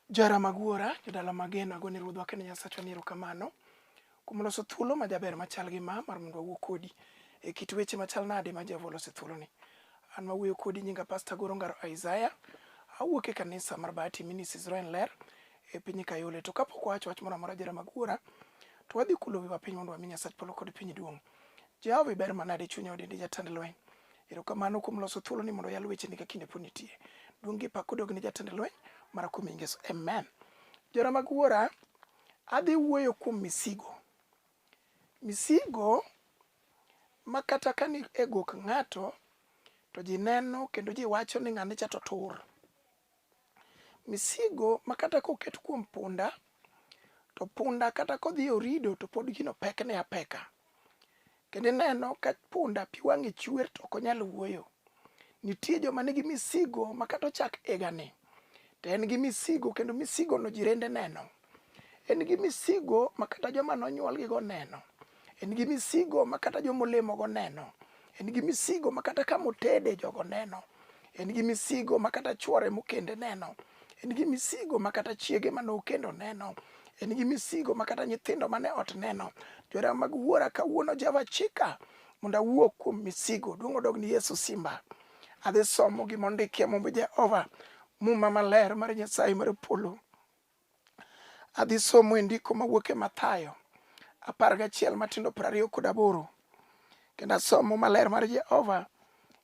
Jara mag wuora, jodala mageno, agone ruodhwa kendo Nyasachwa ni erokamano kuom loso thuolo ma jaber machal gi ma mar mondo awuo kodi e kit weche machal nade ma Jehova olose thuoloni. An ma wuoyo kodi nyinga Pasta Goro Ngaro Isaiah, awuok e kanisa mar Bahati Ministries Roen Ler e piny Kayole. To kapok wawacho wach moro amora jara mag wuora, to wadhi kulo wiwa piny mondo wami Nyasach polo kod piny duong'. Jehova iber manade chunya odendi jatend lweny. Erokamano kuom loso thuolo ni mondo oyal wecheni ka kinde pod nitie. Duong' gi pak odog ni jatend lweny mara kuom nying Yesu. Amen. Jora mag wuora, adhi wuoyo kuom misigo. Misigo ma kata ka ni e gok ng'ato to ji neno kendo ji wacho ni ng'ani cha to tur. Misigo ma kata koket kuom punda to punda kata kodhi orido to pod gino pekne apeka. Kendo ineno ka punda pi wang'e chwer to ok onyal wuoyo. Nitie joma nigi misigo ma kata ochak igani to en gi misigo kendo misigono jirende neno. en gi misigo ma kata joma nonyuolgigo neno en gi misigo ma kata joma olemogo neno en gi misigo ma kata ka motede jogo neno en gi misigo ma kata chwore mokende neno en gi misigo ma kata chiege ma nokendo neno en gi misigo ma kata nyithindo mane ot neno jora mag wuora kawuono java chika mondo awuo kuom misigo duong' odog ni yesu simba adhi somo gima ondikie mumb jehova muma maler mar nyasaye mar polo Adhi somo e ndiko mawuok e Mathayo apar gachiel matindo piero ariyo kod aboro kendo asomo maler mar Jehova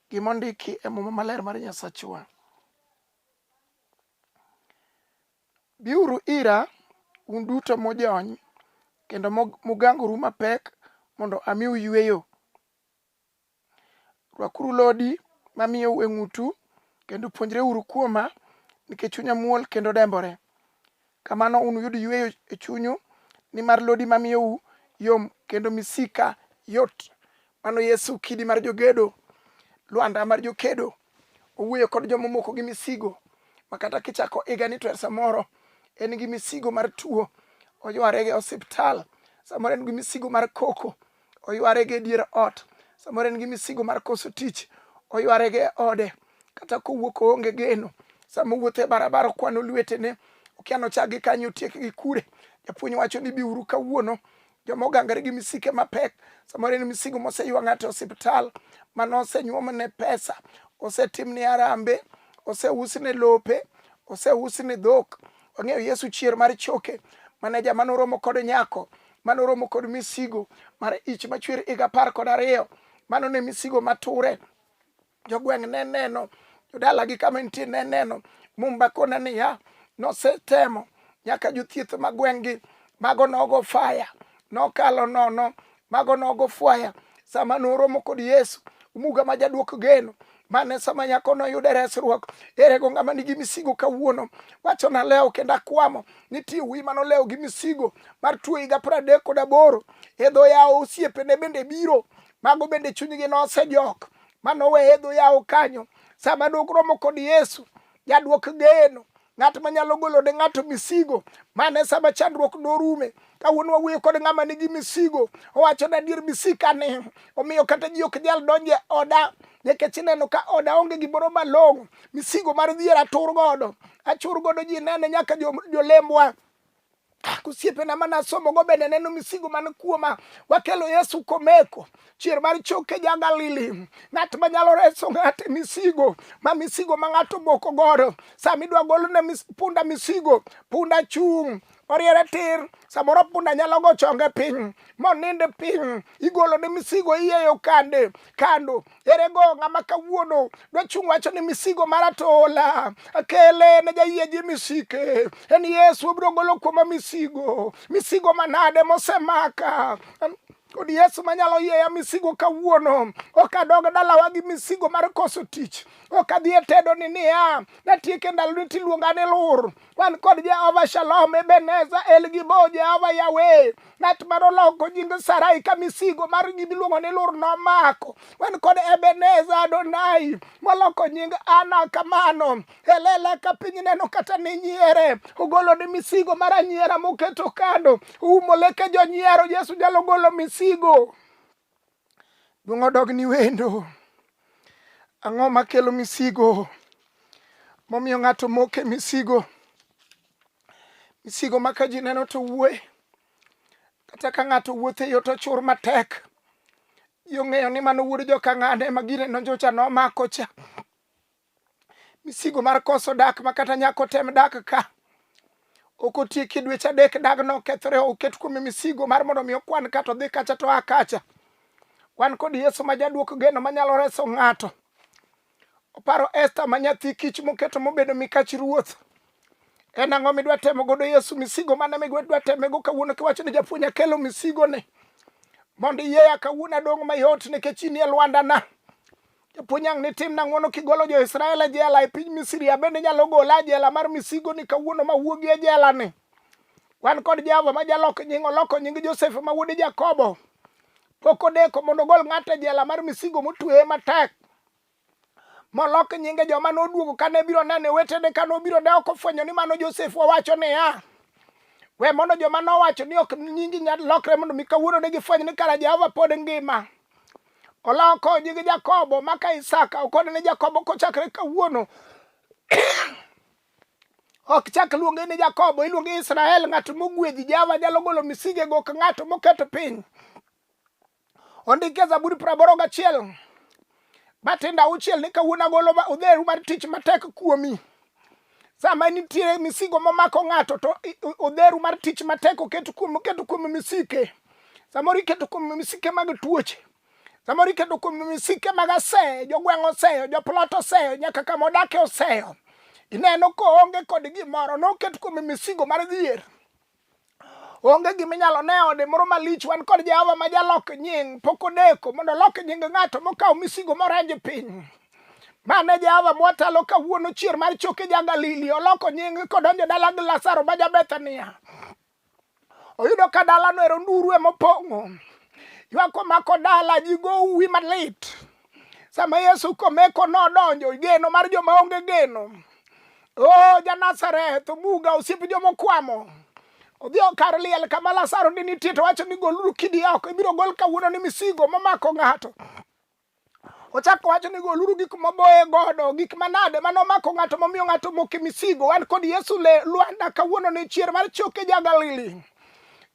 gima ondiki e muma maler mar Nyasachwa. Biuru ira un duto mojony kendo mugangoru mapek mondo amiu yueyo. Rwakuru lodi mamiyou e ng'utu, kendo puonjreuru kuoma, nikech chunya muol kendo dembore. Kamano unuyud yueyo e chunyu, nimar lodi mamiyou yom kendo misika yot. Mano Yesu kidi mar jogedo, lwanda mar jokedo. Owuoyo kod joma omoko gi misigo, ma kata kichako iga ni to er samoro en gi misigo mar tuo, oyware gi osiptal, samoro en gi misigo mar koko, oyware gi dier ot samoro en gi misigo mar koso tich oyware gi ode kata kowuok oonge geno sama owuotho e barabara okwano lwetene okia nochak gi kanyo otiek gi kure japuonj wacho ni biuru kawuono joma ogangre gi misike mapek samoro en misigo moseywa ng'ato e osiptal mano osenyuomne pesa osetimne arambe oseusne lope oseusne dhok Wang'eyo Yesu chier mar choke mane jama noromo kod nyako mane oromo kod misigo mar ich machwer higa apar kod ariyo mano ne misigo mature jogweng' ne neno jodalagi kama nitie ne neno mumba kona niya nosetemo nyaka jothieth ma gweng'gi mago nogo faya nokalo nono mago nogo fwaya sama noromo kod yesu muga ma jaduok geno mane sama nyako noyude resruok ere go ng'ama nigi misigo kawuono wacho na lewo kendo akwamo nitie wi mano lewo gi misigo mar tuo higa pradek kod aboro e dho yawo osiepene bende biro mago bende chunygi nosejok manowe e dho yawo kanyo sama dok romo kod yesu jaduok geno ng'at ma nyalo golo ne ng'ato misigo mane sama chandruok norume kawuono wawuoyo kod ng'ama nigi misigo owacho ni adier misika ne omiyo kata ji ok nyal donje oda nikech ineno ka oda onge gimoro malong'o misigo mar dhier atur godo achur godo ji nene nyaka jolembwa osiepena mana somogo bende neno misigo man kuoma wakelo yesu komeko chier mar choke ja galili ng'at manyalo reso ng'ate misigo ma misigo ma ng'ato boko godo sama idwa golone mis, punda misigo punda chung' oriere tir samoro punda nyalo go chonge piny moninde piny igolone misigo iyeyo kande kando ere go ng'ama kawuono dochung' wacho ni misigo mara to ola akele ne jayie ji misike en yesu obiro golo kuoma misigo misigo manade mosemaka kod yesu manyalo yieya misigo kawuono ok adog dalawa gi misigo mar koso tich ok adhi e tedo ni niya natieke ndaloni tiluonga ni lur wan kod Jehova Shalom, Ebeneza, El Gibo, Jehova Yawe. Ng'at ma noloko nying Sarai ka misigo mar gima iluongo ni lur nomako. Wan kod Ebeneza Adonai moloko nying Ana kamano. Elela ka piny neno kata ni nyiere. Ogolo ni misigo mar anyiera moketo kando. Umo leke jonyiero. Yesu nyalo golo misigo. Duong' odog ni wendo. Ang'o makelo misigo? Momiyo ng'ato moke misigo. Misigo ma ka ji neno to wuoye. Kata ka ng'ato wuotho e yo to chur matek. Ji ong'eyo ni mano wuod joka ng'ane ma gine nonjocha nomako cha. misigo mar koso dak ma kata nyako tem dak ka ok otieki dweche adek dagno okethore oket kuome misigo mar mondo mi okwan kato dhi kacha to a kacha wan kod yesu ma jaduoko geno manyalo reso ng'ato oparo esta ma nyathi kich moketo mobedo mikach ruoth en ang'o midwa temo godo yesu misigo mane midwa temego kawuono kiwacho ni japuonj akelo misigo ni mondo iyeya kawuono adong' mayot nikech inie lwandana Japuonj ang' ni timna ng'wono kigolo jo-Israel e jela e piny Misri, abende inyalo gola e jela mar misigo ni kawuono ma wuogi e jela ni. Wan kod Jehova ma jalok nying oloko nying Josef ma wuod Jakobo. Pok odeko mondo ogol ng'ato e jela mar misigo motweye matek molok nyinge joma noduogo kane biro nene wetene kane obiro ne ok ofwenyo ni mano Josef owacho niya we mondo joma nowacho ni ok nyingi nyal lokre mondo mi kawuono ne gifweny ni kara Jehova pod ngima oloko nying Jakobo maka Isaka okone ne Jakobo kochakre kawuono ok chak luonge ni Jakobo iluonge Israel ng'at mogwedhi Java nyalo golo misige go ka ng'ato moketo piny ondike Zaburi praboro gachiel matindo auchiel ni kawuono agolo odheru mar tich matek kuomi sama nitiere misigo momako ng'ato to odheru mar tich matek oket kuom oketo kuom misike samoro iketo kuom misike mag tuoche samoro iketo kuom misike mag aseyo jogweng' oseyo joplot oseyo nyaka kama odake oseyo ineno koonge kod gimoro noket kuom misigo mar dhier onge gima inyalo ne ode moro malich wan kod jehova ma jalok nying pok odeko mondo olok nying ng'ato mokawo misigo moranj piny mane jehova mwatalo kawuono chier mar choke ja galili oloko nying kodonjo dala gi lasaro ma jabethania oyudo ka dalano ero nduru emopong'o ywak omako dala ji go uwi malit sama yesu komeko nodonjo geno mar joma onge geno o oh, janazareth omuga osiep jomokwamo odhi okar liel kama lasaro ni nitie to wacho ni goluru kidi oko ibiro gol kawuono ni misigo momako ng'ato ochako wacho ni goluru gik moboye godo gik manade mane omako ng'ato momiyo ng'ato moke misigo wan kod yesu le lwanda kawuono ni chier mar choke ja galili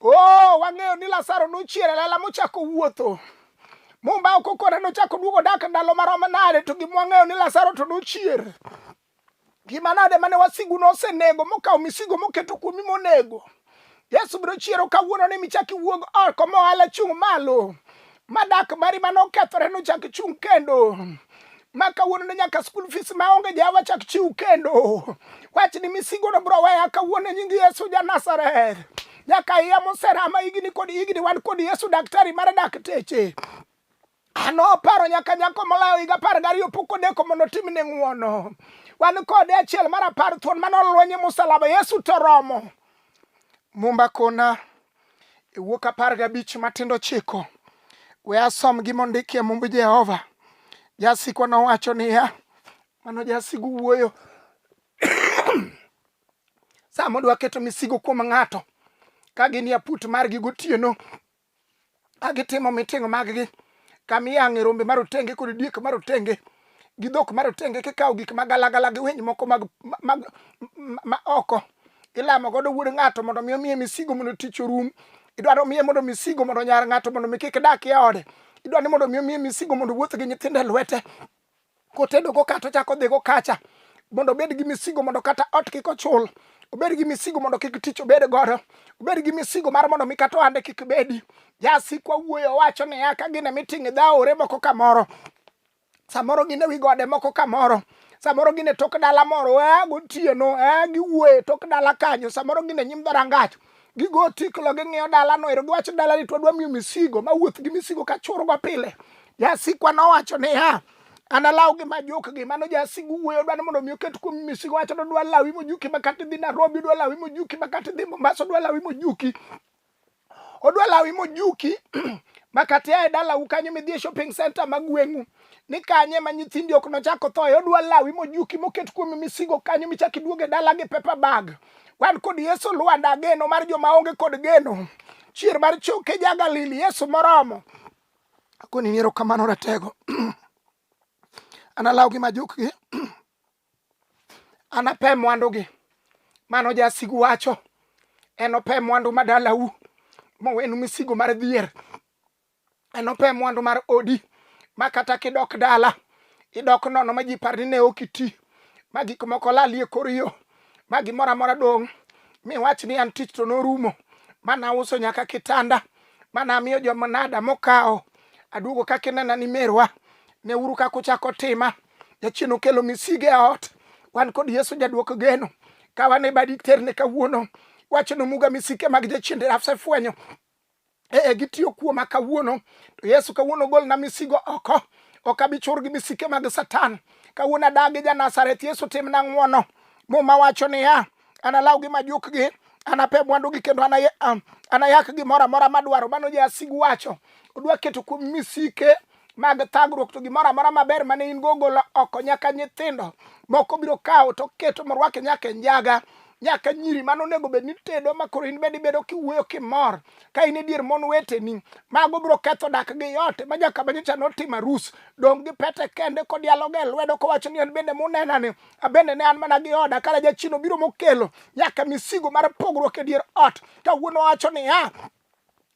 o oh, wang'eyo ni lasaro nochier e lela mochako wuotho Mumba ok okore nochako duogo dak ndalo marom nade to gima wang'eyo ni Lazaro to nochier. Gima nade mane wasigu nosenego mokawo misigo moketo kuomi monego. Yesu biro chiero kawuono ni michaki wuog oko mohala chung' malo. Madak mari mane okethore nochak chung' kendo. ma kawuono ne nyaka school fees ma onge ja wachak chiw kendo wach ni misigo no bro weya kawuono e nying Yesu ja Nazareth nyaka iya moserama higni kod higni wan kod Yesu daktari mar dakteche ano paro nyaka nyako molayo higa apar gariyo pok odeko mondo otimne ng'uono wan kode achiel mar apar thuon mane olwenye musalaba yesu to romo mumba kona e wuok apar gabich matindo chiko we asom gima ondiki e mumb jehova jasikwa nowacho niya mano jasigu wuoyo sama odwa keto misigo kuom ng'ato ka gin yaput margi gotieno a gitimo miting maggi kama iyang'e rombe marotenge kod diek marotenge gi dhok marotenge kikawo gik magalagala gi winy moko mag, mag, ma oko ilamo godo wuod ng'ato mondo mi omiye misigo mondo tich orum idwaro miye mondo misigo mondo nyar ng'ato mondo mi kik dak e ode idwaro ni mondo mi omiye misigo mondo wuoth gi nyithindo e lwete kotedo go kacha ochako odhi go kacha mondo obed gi misigo mondo kata ot kik ochul obed gi misigo mondo kik tich obed godo obed gi misigo mar mondo mi kata ohande kik bedi jasikwa wuoyo wacho niya ka gine miting' dhaore moko kamoro samoro gin e wi gode moko kamoro samoro gin e tok dala moro eh, gotieno eh, giwuoye tok dala kanyo samoro gin e nyim dharangach gigo otiklo ging'iyo dalano ero giwacho dalani to wadwa miyo misigo mawuoth gi misigo ka churgo pile jasikwa nowacho niya analaw gi majok gi mano jasigu wuoyo dwani mondo mi oket kuom misigo wacho no dwa lawi mojuki makati dhi Nairobi dwa lawi mojuki makati dhi Mombasa dwa lawi mojuki odwa lawi mojuki makati ae dalau kanyo midhi e shopping center ma gweng'u ni kanye ma nyithindi ok nochako thoye odwa lawi mojuki moket kuom misigo kanyo michak iduoge dala gi paper bag Wan kod Yesu Lwanda, geno mar joma onge kod geno. Chier mar choke ja Galili, Yesu moromo. Akoni ni erokamano ratego. Analawgi ma jukgi. Anape mwandugi. Mano jasigu wacho. Enope mwandu ma dalau. Mowenu misigo mar dhier. enope mwandu mar odi ma kata kidok dala idok nono ma ji par ni ne ok iti ma gik moko lali e kor yo ma gimoro amora dong' mi wach ni an tich to norumo ma nauso nyaka kitanda ma namiyo joma nada mokawo aduogo kaka inena ni merwa ne uru kaka uchako tima jachien okelo misige e ot wan kod yesu jaduoko geno ka wan e badi terne kawuono wachno muga misike mag jachien dirafse fwenyo e, e gitiyo kuoma kawuono to yesu kawuono golna misigo oko ok abi chur gi misike mag satan kawuono adagi janazareth yesu timna ng'wono muma wacho niya analaw gi majukgi anape mwandugi kendo um, anayak gimoro amora madwaro mano jasigu wacho odwa keto kuom misike mag thagruok to gimoro amora maber mane in go golo oko nyaka nyithindo moko biro kawo to keto morwake nyaka e njaga nyaka nyiri mano onego bed ni tedo ma koro in bende ibedo kiwuoyo kimor ka in e dier mon weteni mago biro ketho dak gi yote ma nyaka banyocha notimo arus dong' gi pete kende kodialoga e lwedo kowacho ni an bende munenani abende ne an mana gi oda kara jachino biro mokelo nyaka misigo mar pogruok e dier ot kawuono wacho niya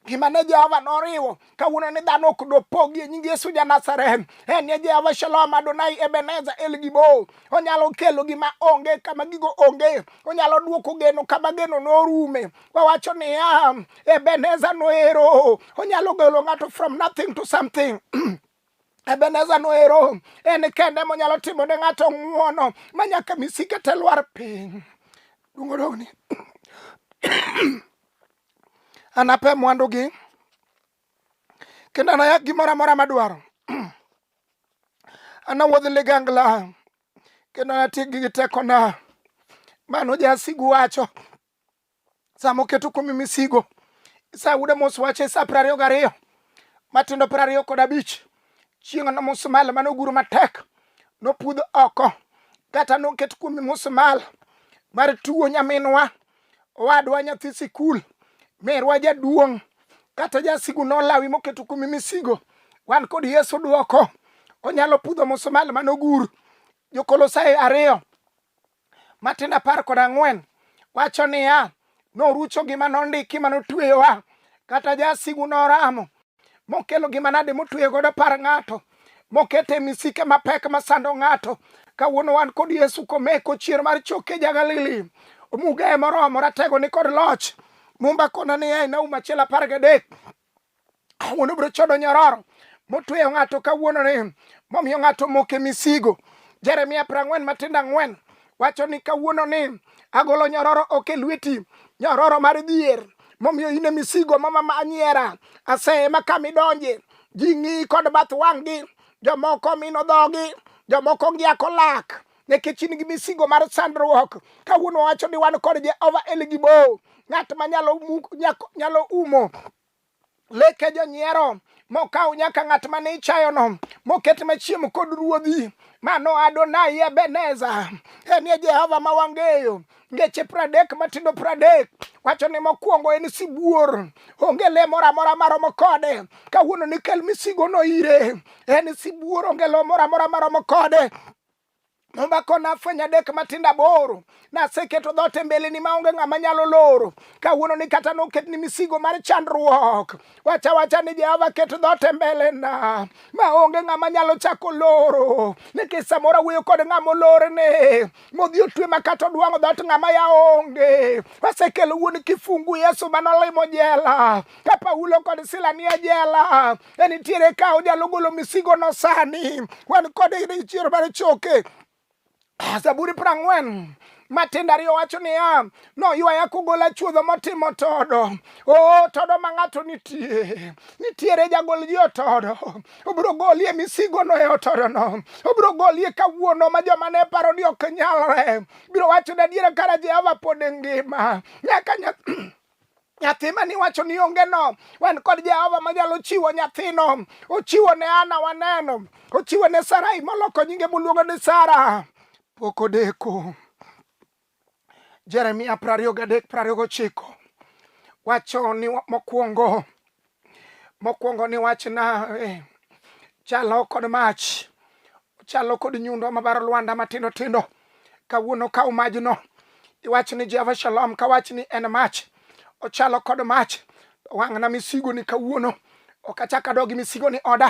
gima ne Jehova noriwo kawuono ni dhano ok dopogi e nying Yesu ja Nazareth. En ne Jehova Shalom Adonai Ebenezer El Gibo. Onyalo kelo gima onge kama gigo onge. Onyalo duoko geno kama geno norume. Wawacho niya, Ebenezer noero. Onyalo golo ng'ato from nothing to something. Ebeneza noero en kende monyalo timo ne ng'ato ng'uono ma nyaka misike te lwar piny. Duong' odogni. Anape mwandugi kendo anayak gimoro amora madwaro. Anawuodh ligangla kendo anatiekgi gi tekona. Mano jasigu wacho. sama oketo kuomi misigo isayude mos wache sa piero ariyo gariyo matindo piero ariyo kod abich chieng' no musmal mane oguro matek nopudh oko kata noket kuomi musmal mar tuwo nyaminwa owadwa nyathi sikul merwa jaduong' kata jasigu nolawi moketo kuomi misigo wan kod yesu dwoko onyalo pudho musmal mane ogur jokolosae ariyo Matindo apar kod ang'wen wacho niya, norucho gima nondiki ma notweyowa, kata jasigu noramo mokelo gima nade motweyo godo par ng'ato mokete misike mapek masando ng'ato kawuono wan kod yesu komeko chier mar choke ja galili omuga e moromo ratego ni kod loch mumba kona ni e nauma achiel apar gadek awuono biro chodo nyororo motweyo ng'ato kawuono ni momiyo ng'ato moke misigo jeremia prang'wen matindo ang'wen wacho ni kawuono ni agolo nyororo oke lweti nyororo mar dhier momiyo ine misigo mamama anyiera asema kamidonje ji ng'i kod bath wang'gi jomoko mino dhogi jomoko ngiako lak nikech in gi misigo mar sandruok kawuono wacho ni wan kod jehova eligibo ng'at ma nyalo umo leke jonyiero mokaw nyaka ng'at ma ne ichayono moket machiem kod ruodhi mano adonai ebeneza en ye jehova ma wang'eyo ngeche pradek matindo pradek wacho ni mokwongo en sibuor onge le moro amora maromo kode kawuono ni kel misigono ire en sibuor onge lo moro amora maromo kode omako nafwenyo adek matindo aboro naseketo dhoot e mbeleni maonge ng'ama nyalo loro kawuono ni kata noket ni misigo mar chandruok wacha wacha ni jehova ket dhoot e mbelena maonge ng'ama nyalo chako loro nikech samoro awuoyo kod ng'ama olorne modhi otwe ma kata odwang'o dhoot ng'ama ya onge wasekelo wuon kifungu yesu manolimo jela ka paulo kod sila nie jela en nitiere ka onyalo golo misigono sani wan kod chiero mar choke ah, zaburi prang'wen matindo ariyo wacho niya noywaya kugola chuodho motimo todo o todo ma ng'ato nitie nitiere jagol ji otodo obiro golie misigono e otodono obiro golie kawuono ma joma ne paro ni ok nyalre biro wacho ni adiera kara jehova pod ngima nyaka nyathi mani wacho ni onge no wan kod jehova manyalo chiwo nyathino ochiwo ne ana waneno ochiwo ne sarai moloko nyinge moluongo ni sara pok odeko jeremia prariyo gadek prariyo gochiko wacho ni mokwongo mokwongo ni wachna eh, chalo kod mach Chalo kod nyundo mabaro lwanda matindo tindo. Kawuono kaw majno. Iwach ni Jehova Shalom kawach ni en mach. Ochalo kod mach. Wang'na misigo ni kawuono. Ok achak adog gi misigo ni oda.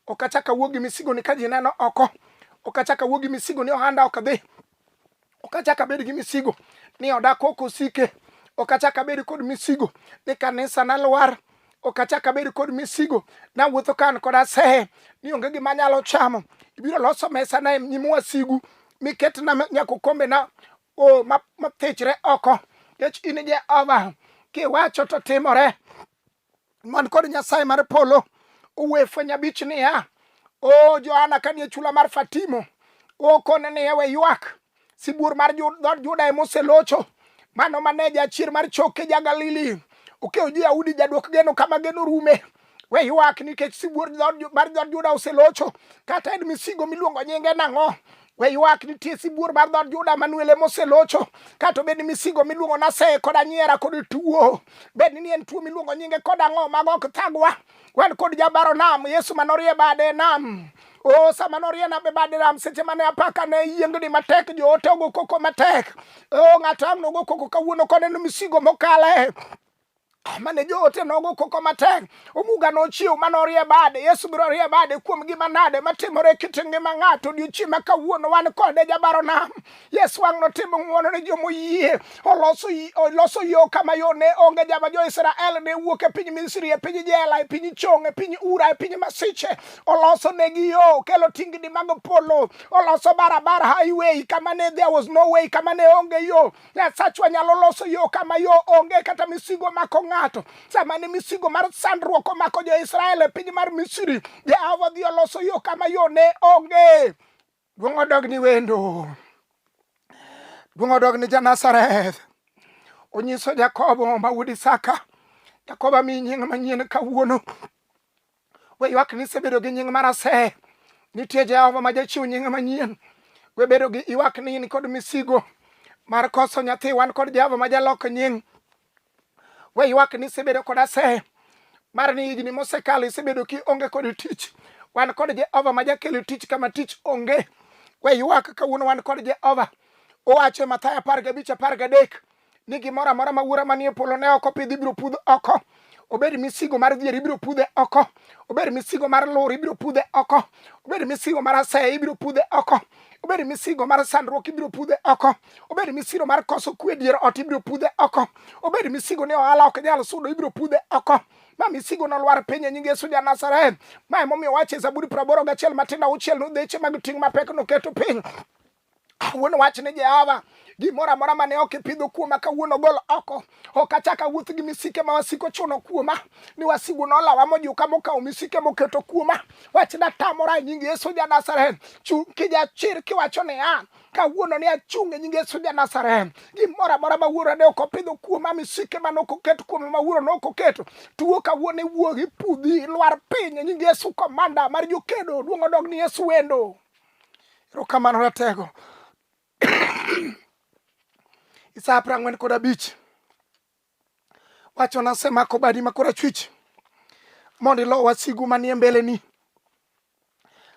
Ok achak awuog gi misigo ni ka ji neno oko. Ok achak awuog gi misigo ni ohanda ok dhi. ok achak abed gi misigo ni oda kok osike ok achak abed kod misigo ni kanisa na lwar ok achak abed kod misigo nawuotho kan kod asehe ni onge gima anyalo chamo ibiro loso mesa na nyim wasigu miketna nyaka okombena mathichre oko nikech in jehova kiwacho to timore man kod nyasaye mar polo uwe fweny abich niya o johana kanie chula mar fatimo okone niya we ywak sibuor mar dhood juda emoselocho mano mane jachier mar choke ja galili okewo ji yahudi jaduok geno kama geno rume we ywak nikech sibuor mar dhood juda oselocho kata en misigo miluongo nyinge nang'o We ywak nitie sibuor mar dhood Juda Manuel ema oselocho. Kata obed ni misigo miluongo nase kod anyiera kod tuo. Bed ni en tuo miluongo nyinge kod ang'o mago ok thagwa. Wan kod jabaro nam Yesu manorie bade nam. O sama norie nam e bade nam seche mane apaka ne yiengni matek joote ogo koko matek. O ng'ato ang' nogo koko kawuono koneno misigo mokale. mane joote nogo koko matek omuga nochiw mane orie bade yesu biro rie bade kuom gima nade matimore e kit ngima ng'ato odiochieng' ma kawuono wan kode jabaro nam yesu wang' notimo ng'uono ne joma oyie oloso yo kama yo ne onge jama jo-israel ne wuok e piny misri e piny jela e piny chong e piny ura e piny masiche oloso negi yo kelo tingni mag polo oloso barabara highway kama ne there was no way kama ne onge yo Nyasachwa nyalo loso yo kama yo onge kata misigo mako ng'ato. Sama ne misigo mar sandruok omako jo-Israel e piny mar Misri, Jehova dhi oloso yo kama yo ne onge. Duong' odog ni wendo. Duong' odog ni Janazareth. Onyiso Jakobo ma wuod Isaka. Jakobo mi nying manyien kawuono. We ywak ni isebedo gi nying mar ase. Nitie Jehova ma jachiw nying manyien. We bedo gi ywak ni in kod misigo mar koso nyathi. Wan kod Jehova ma jalok nying. We ywak ni isebedo kod ase mar ni higni mosekalo isebedo ki onge kod tich. Wan kod Jehova ma jakelo tich kama tich onge. We ywak kawuono wan kod Jehova. Owacho e Mathayo apar gabich apar gadek ni gimoro amora ma wuora manie polo ne ok opidh ibiro pudh oko obed misigo mar dhier ibiro pudhe oko obed misigo mar lur ibiro pudhe oko obed misigo mar asaya ibiro pudhe oko obed misigo mar sandruok ibiro pudhe oko obed misigo mar koso kwe dier ot ibiro pudhe oko obed misigo ni ohala ok nyal sudo ibiro pudhe oko ma misigo nolwar piny e nying Yesu ja Nazareth. Ma emomiyo wacho e Zaburi praboro gachiel matindo auchiel nudheche mag ting' mapek noketo piny Awuon wach ni Jehova gimoro amora mane ok ipidho kuoma kawuono gol oko ok achak awuoth gi misike ma wasiko chuno kuoma ni wasigu nolawa mojuka mokawo misike moketo kuoma wach natamora e nying yesu ja nazareth chung' kijachir kiwacho niya kawuono ni achung' e nying yesu ja nazareth gimoro amora ma wuora ne ok opidho kuoma misike mane ok oket kuoma ma wuoro ne ok oketo tuo kawuono iwuog ipudhi lwar piny e nying yesu komanda mar jokedo duong' odog ni yesu wendo Erokamano ratego. Isa apra ng'wen kod abich. Wacho nasemako badi ma korachwich mondo ilo wasigu manie mbeleni.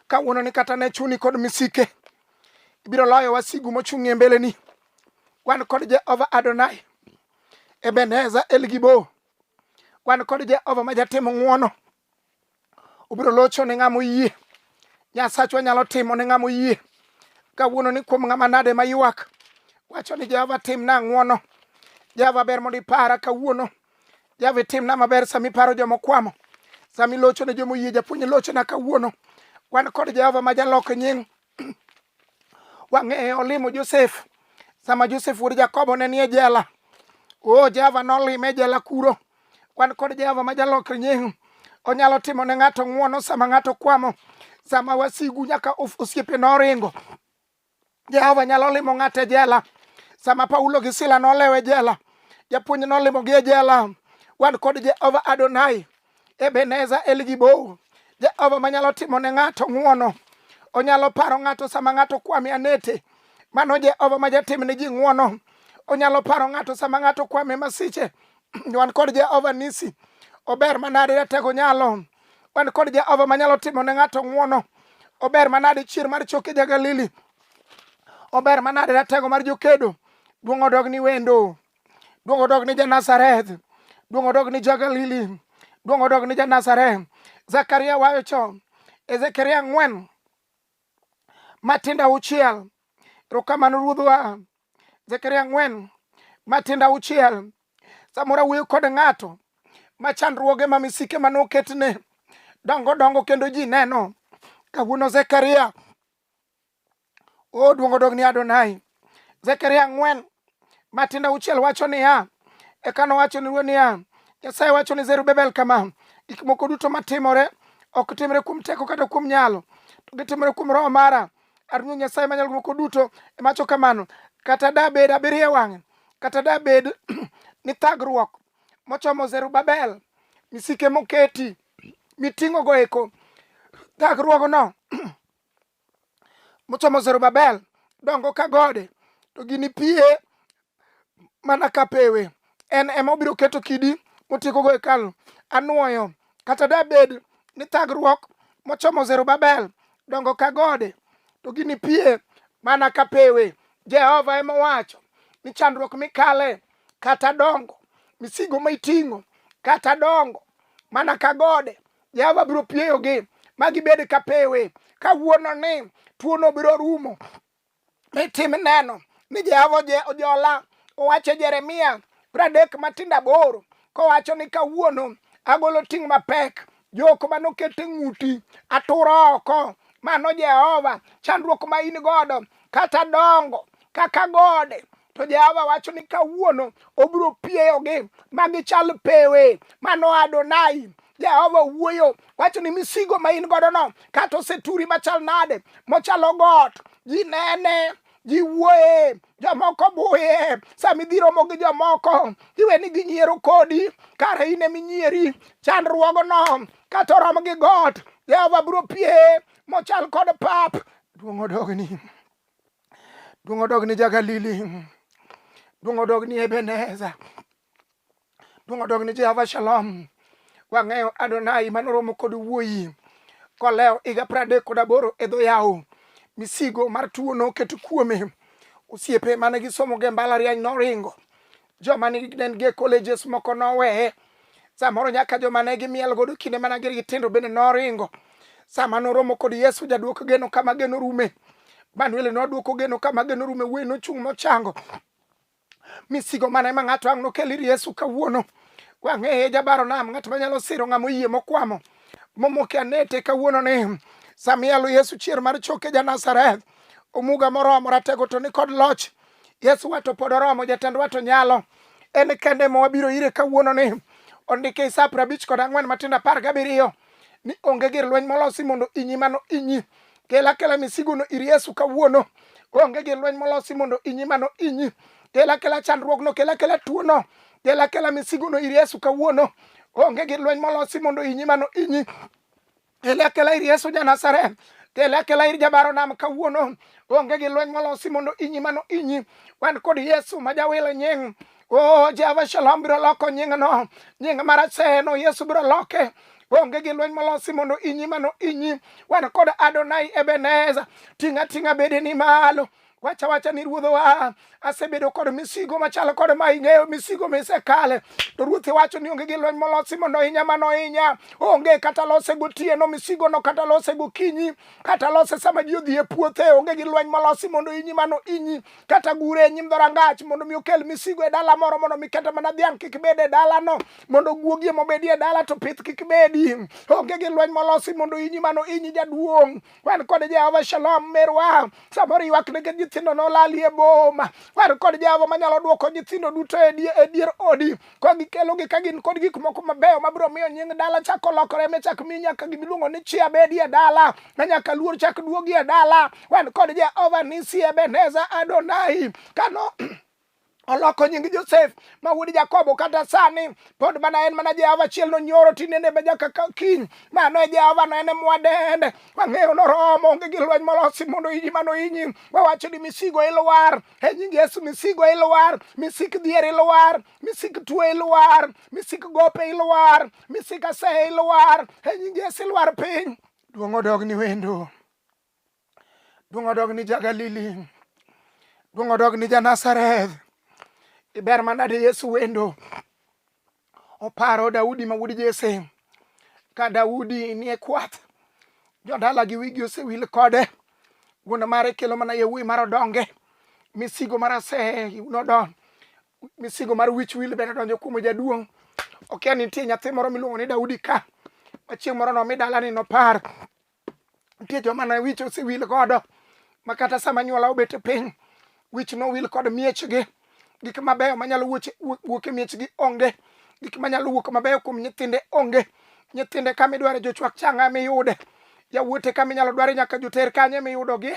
Kawuono ni kata ne chuni kod misike ibiro loyo wasigu mochung' e mbeleni. Wan kod Jehova Adonai, Ebeneza Elgibo. Wan kod Jehova ma jatimo ng'wono. obiro locho ne ng'ama oyie nyasachwa nyalo timo ne ng'ama oyie kawuono ni kuom ng'ama nade ma ywak wacho ni jehova timna ang'wono jehova ber mondo ipara kawuono jehova itimna maber sama iparo joma okwamo sama ilocho ne joma oyie japuonj lochona kawuono wan kod jehova ma jalok nying Wang'e olimo Josef sama Josef wuod Jakobo ne nie jela. O Jehova nolime jela kuro. Wan kod Jehova ma jalokre nying'. Onyalo timo ne ng'ato ng'wono sama ng'ato kwamo, sama wasigu nyaka osiepe noringo. Jehova nyalo limo ng'ato e jela. Sama Paulo gi Sila nolewe jela, japuonj nolimogi e jela. Wan kod Jehova Adonai. Ebeneza El Gibor, Jehova manyalo timo ne ng'ato ng'uono, onyalo paro ng'ato sama ng'ato kwame anete. Mano Jehova ma jatim ne ji ng'uono, onyalo paro ng'ato sama ng'ato kwame masiche. Wan kod Jehova nisi, ober manade ratego nyalo. Wan kod Jehova manyalo timo ne ng'ato ng'uono, ober manade chier mar choke ja Galili, ober manade ratego mar jokedo. Duong' odog ni wendo. Duong' odog ni ja Nazareth. Duong' odog ni ja Galili. Duong' odog ni ja Nazareth. Zakaria wayo cho. Ezekiel ang'wen matindo auchiel. Erokamano ruodhwa. Zakaria ang'wen matindo auchiel. Samoro awuoyo kod ng'ato ma chandruoge ma misike ma noketne dongo dongo kendo ji neno. Kawuono Zekaria o duongo dog ni adonai zekaria ang'wen matindo auchiel wacho niya eka nowacho ni ruoth niya nyasaye wacho ni zerubebel kama gik moko duto matimore ok timre kuom teko kata kuom nyalo to gitimre kuom roho mara aruoth nyasaye manyalo moko duto emacho kamano kata dabed abiriyo wang'e kata dabed ni thagruok mochomo zerubabel misike moketi miting'ogo eko thagruogno mochomo Zerubabel dongo ka gode to gini pie mana ka pewe. En ema obiro keto kidi motiekogo hekalu. Anwoyo kata dabed ni thagruok mochomo Zerubabel dongo ka gode to gini pie mana ka pewe. Jehova ema owacho ni chandruok mikale kata dongo misigo ma iting'o kata dongo mana ka gode Jehova biro pieyogi ma gibed ka pewe kawuono ni tuono biro rumo. Nitim neno ni Jehova ojola owacho Jeremia pradek matindo aboro kowacho ni kawuono agolo ting' mapek jok manoket e ng'uti aturo oko mano Jehova chandruok ma in godo kata dongo kaka gode to Jehova wacho ni kawuono obiro pieyogi ma gichal pewe mano Adonai Jehova wuoyo wacho ni misigo ma in godo no kata oseturi machal nade mochalo got ji nene ji wuoye jomoko buye sama idhi romo gi jomoko iwe ni ginyiero kodi kara in eminyieri chandruogno kata orom gi got Jehova biro pie mochal kod pap duong' odogni Duong' odog ni Jagalili. Duong' odog ni Ebeneza. Duong' odog ni Jehova Shalom. Wang'eyo Adonai manoromo kod wuoyi kolewo higa pradek kod aboro e dho yawo. Misigo mar tuo noket kuome. Osiepe mane gisomo ge mbalariany noringo. joma ne nigi e colleges moko noweye samoro nyaka joma ne gimiel godo kinde mana gin gitindo bende noringo sama noromo kod yesu jaduoko geno kama geno rume manuel noduoko geno kama geno rume wuoyi nochung' mochango misigo mane ma ng'ato ang' nokel ir yesu kawuono wang'eye jabaro nam ng'at manyalo siro ng'ama oyie mokwamo momoke anete kawuono ni samiyalo yesu chier mar choke ja nazareth omuga moromo ratego to ni kod loch Yesu wato pod oromo, jatend wato nyalo. En kende ma wabiro ire kawuono ni ondike e Isaya prabich kod ang'wen matindo apar gabiriyo ni onge gir lweny molosi mondo inyi mano inyi. Kel akela misigono ir Yesu kawuono. Onge gir lweny molosi mondo inyi mano inyi. Kel akela chandruogno, kel akela tuono, kel akela misigono ir Yesu kawuono. Onge gir lweny molosi mondo inyi mano inyi. Telekela ir Yesu ja Nazareth. Telekela ir jabaro nam kawuono. Onge gi lweny molosi mondo inyi mano inyi. Wan kod Yesu ma jawil nying. Oh, Jehova Shalom biro loko nyingno. Nying mar aseno Yesu biro loke onge gi lweny molosi mondo inyi mano inyi wan kod adonai ebeneza ting'a ting'a bedeni malo wacha wacha ni ruodho wa asebedo kod misigo machalo kod ma ing'eyo misigo misekale to ruoth iwacho ni onge gi lweny molosi mondo ohinya mano ohinya onge kata lose gotieno misigo no kata lose gokinyi kata lose sama ji odhi e puothe onge gi lweny molosi mondo inyi mano inyi kata gure e nyim dhorangach mondo mi okel misigo e dala moro mondo mi kata mana dhiang' kik bed e dalano mondo guogi mobedi e dala to pith kik bedi onge gi lweny molosi mondo inyi mano inyi jaduong' wan kod jehova shalom merwa samoro ywak nige nyithindo nolali e boma wan kod jehova manyalo dwoko nyithindo duto e die- e dier odi ka gikelogi ka gin kod gik moko mabeyo mabiro miyo nying dala chako lokore michak mi nyaka gimiluongo ni chia bedi e dala ma nyaka luor chak duogi e dala wan kod jehova nisi ebeneza adonai kano oloko nying josef ma wuod jakobo kata sani pod mana en mana jehova achiel nonyoro tinende be nyaka kiny mano e jehova no en e mwadende wang'eyo noromo onge gi lweny molosi mondo inyi mano inyi wawacho ni misigo ilwar e nying yesu misigo ilwar misik dhier ilwar misik tuo ilwar misik gope ilwar misik asehe ilwar e nying yesu ilwar piny duong' odog ni wendo Duong' odog ni ja Galili. Duong' odog ni ja Nazareth. Iber manade Yesu wendo. Oparo Daudi ma wuod Jesse. Ka Daudi nie kwath, jodalagi wigi osewil kode. Wuon mare kelo mana yawuoyi mar odonge. Misigo mar ase nodon. Misigo mar wich wil bende donjo kuom jaduong'. Okia ni nitie nyathi moro miluongo ni Daudi ka. Machieng' moro nomi dalani nopar. nitie joma ne wich osewil godo ma kata sama nyuola obet e piny wich nowil kod miechgi gik mabeyo manyalo wuok e miechgi onge gik manyalo wuok mabeyo kuom nyithinde onge nyithinde kama idware jochwak changa miyude yawuote kama inyalo dware nyaka joter kanye miyudogi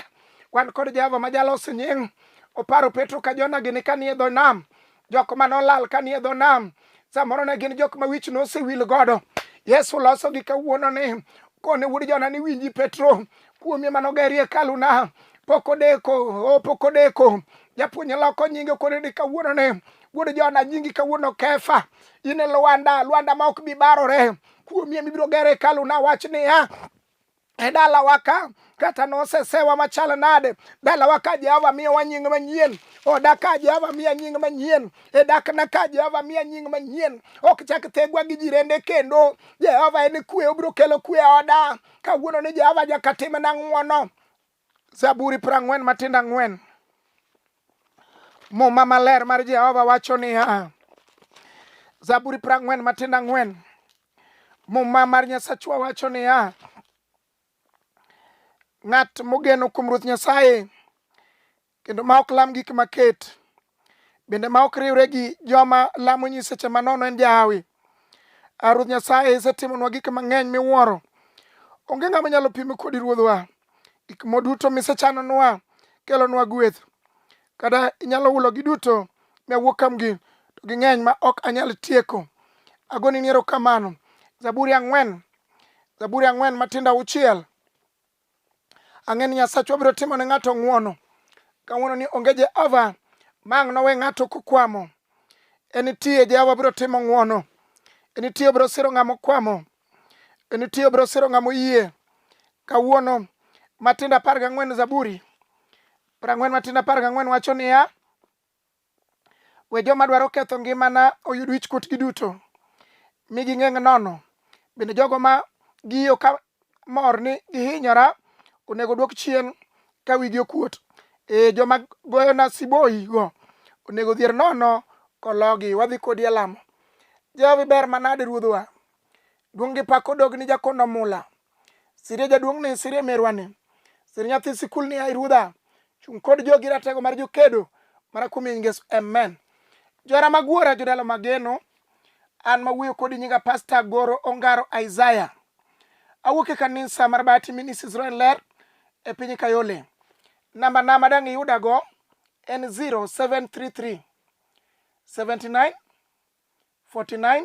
wan kod jehova ma jalose nying oparo petro ka jona gini kanie dho nam jok ma nolal ka nie dho nam samoro ne gin jok ma wich nosewil godo yesu losogi kawuono ni kone wuod jona ni winji petro kuomie mano geri hekaluna pok odeko o pok odeko japuonj loko nyinge kone ni kawuono ni wuod jona nyingi kawuono kefa in e lwanda lwanda ma ok bi barore kuomie mibiro gero hekaluna wach niya e dalawa ka kata nosesewa machal nade dalawa ka jehova miyowa nying manyien oda ka jehova miya nying manyien e dakna ka jehova miya nying manyien ok chak thegwa gi jirende kendo jehova en kwe obiro kelo kwe e oda kawuono ni jehova nyaka timna ng'wono Zaburi prang'wen matindo ang'wen. Muma maler mar Jehova wacho niya, Zaburi prang'wen matindo ang'wen. Muma mar Nyasachwa wacho niya, ng'at mogeno kuom Ruoth Nyasaye kendo ma ok lam gik maket bende ma ok riwre gi joma lamo nyiseche manono en jahawi ah, ruoth nyasaye isetimonwa gik mang'eny miwuoro onge ng'ama nyalo pime kodi ruodhwa gik moduto misechanonwa kelonwa gweth kata inyalo hulo gi duto miawuok kamgi to ging'eny ma ok anyal tieko agoni niero kamano zaburi ang'wen zaburi ang'wen matindo auchiel Ang'e ni Nyasachwa biro timo ne ng'ato ng'wono. Kawuono ni onge Jehova ma ang' nowe ng'ato kokwamo. En nitie Jehova biro timo ng'wono. En nitie obiro siro ng'ama okwamo. En nitie obiro siro ng'ama oyie. Kawuono matindo apar gang'wen Zaburi prang'wen matindo apar gang'wen wacho niya We joma dwaro ketho ngimana oyud wich kuotgi duto, mi ging'eng' nono. Bende jogo ma giyo ka mor ni gihinyora onego dwok chien ka wigi okuot. Ee, joma goyona siboigo onego dhier nono kologi. Wadhi kodi e lamo. Jehova iber manade Ruodhwa. Duong' gi pak odog ni jakon omula. Sire jaduong' ni, sire merwa ni, sire nyathi sikul ni, ai ruodha, chung' kod jogi ratego mar jokedo mara kuom nying Yesu, amen. Johera mag wuora, jodalo mageno, an mawuoyo kodi nyinga Pasta Goro Ongaro Isaiah. Awuok e kanisa mar Bahati Ministries Roen Ler e piny Kayole. Namba na madang' iyudago en 0733 79 49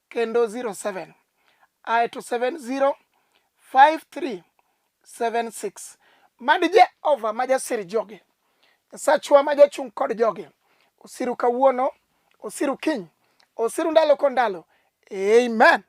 kendo 07 ae to 705376 mad jehova ma jasir joge nyasachwa ma jachung' kod joge osiru kawuono osiru kiny osiru ndalo ko ndalo amen